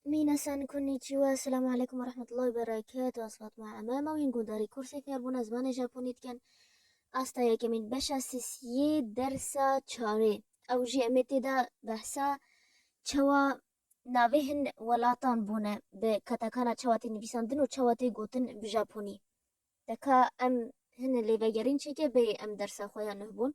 Mînasan Konnichiwa, Esselamu Aleykum ve Rahmetullahi ve Berekatuh, Ez Fatma Eme, mewîn Gundarî Kursê Fêrbûna Zimanê Japonî dikin. Asta yekemîn beşa sisiyê dersa çarê. Ew jî em ê tê de behsa çawa navê hin welatan bûne bi katakana çawa tê nivîsandin û çawa tê gotin bi Japonî. Deka em hin lêvegerîn çêke bê em dersa xwe ya nuh bûn.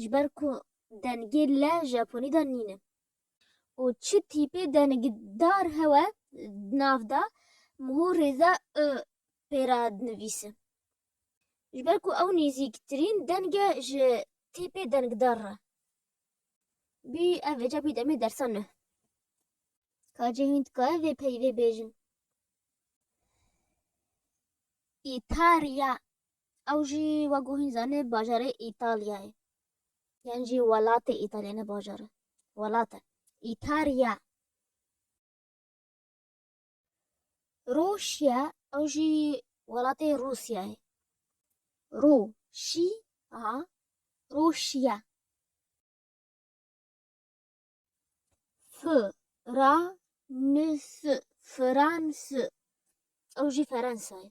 ji ber ku dengê le Japonî de nîn e û çi tîpê dengdar hewe di nav de mû rêza û pê re dinivîse. Ji ber ku ew nêzîktirîn deng e ji tîpê dengdar re. Bî ev vêca bî demê dersa nuh. Ka cê hîn dikaye vê peyvê bêjin. Îtalya Ew jî wek ku hîn zanîn bajarê Îtalyayê yan jî welatê Îtalyayê ne bajar e welat e Îtarya. Rûşya ew jî welatê Rûsyayê Rû şî a Rûşya. Fi ra ni si Firansi ew jî Ferensayê.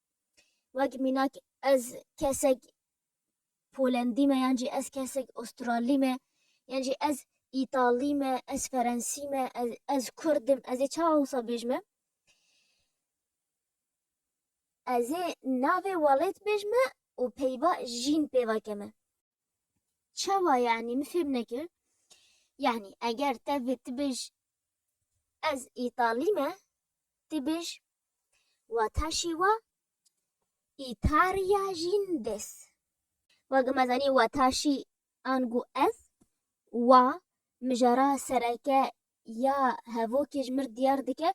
Wek mînak ez kesek Polendî me yan jî ez kesek Astralî me yan jî ez Îtalî me, ez Ferensî me, ez ez Kurd im, ez ê çawa wisa bêj me? Ez ê navê welêt bêj me û peyva jîn pêva ke me. Çawa yani mi fêm nekir. Yani eger tevê tu bêj ez îtalî me tu bêj wataşî wa îtarîya jîn des. Wagi me zanî wataşî angu ez wa mijara sereke ya hevokê ji mir diyar dike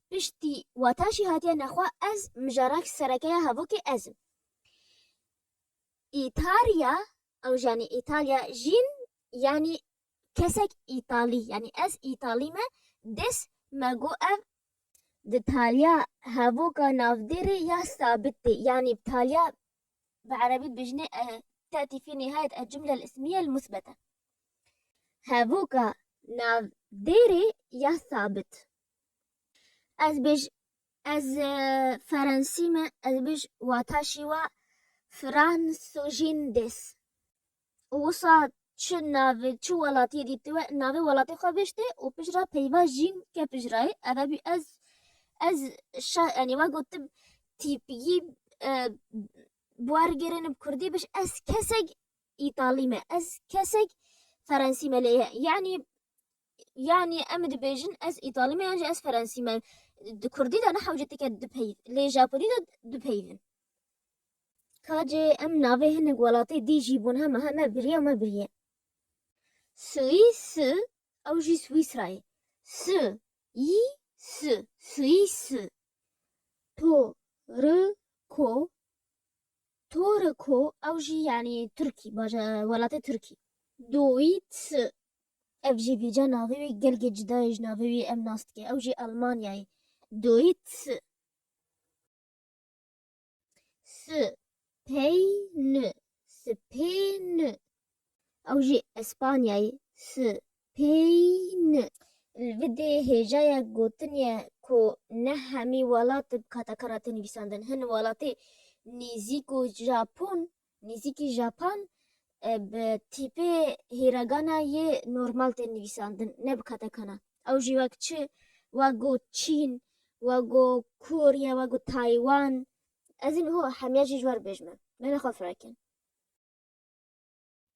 piştî wataşî hatiye nexwe ez mijarak sereke ya hevokê ez im. Îtalya, ew janî Îtalya jîn yanî kesek Îtalî yanî ez Îtalî me dis me got ev di taliya hevoka navdêrê ya sabit tê yanî taliya bi erebî dibêjinê tetî fî nihayet el cumle el ismiye el musbete hevoka nav dêrê ya sabit ez bêj Ez ferensî me ez bêj wata şîwa Fransojindes û wisa çi navê çi welatiyê dî tu navê welatê xwe bêj tê û pijra peyva jîn ke pijrayê eve bî ez ez şa yanî wa gotim tîpî wergêrêne bi kurdî bêj ez kesek îtalî me ez kesek ferensî me lê yanî yanî em dibêjin ez îtalî me yan jî ez ferensî me di kurdî de ne hewce tike dipeyv lê japonî de dipeyvin kacê em navê hinek welatê dî jî bûn heme heme biriye me biriye Suîs ew jî Swîsrayê si y si Suîs to ri ko Toriko ew jî yanî Tirkî baja welatê Tirkî Dowît Ev jî vîca navê wî gelgê cuda ye ji navê wî em nas dike. Ew jî Elmanyayê doyît si. Si pey ni si pê ni ew jî Espanyayê si pey ni. Li vê dê hêjaya gotin ye ku ne hemî welat dikata karate nivîsandin. Hin welatê nêzîk û Japon Nêzîkî Japan bi tîpê hîragana yê normal tên nivîsandin, ne bi katakana. Ew jî wek çi, wek go Çîn, wek go Korya, wek go Taywan. Ez îniho hemiya jî ji we re bêjme. Mele xwe firek in.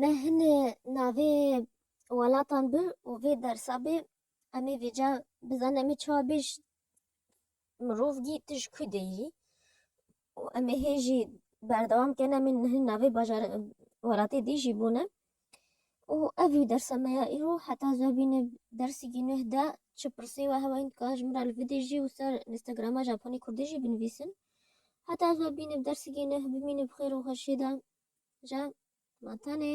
Me hin navê welatan bi û vê dersa bê em ê vêca bizanin em ê çawa bê ji mirov gî tu ji ku de yî û em ê hê jî berdewam kin em ê hin navê bajar welatê dî jî bûne û ev jî dersa me ya îro heta zû bîne dersîkî nûh de çi pirsî we hewa dikare ji min re li vê de jî wisa Instagrama Japonî Kurdî jî binivîsin. Heta ez we bînim dersigê neh bimînim xêr û xweşiyê de ja ma tenê.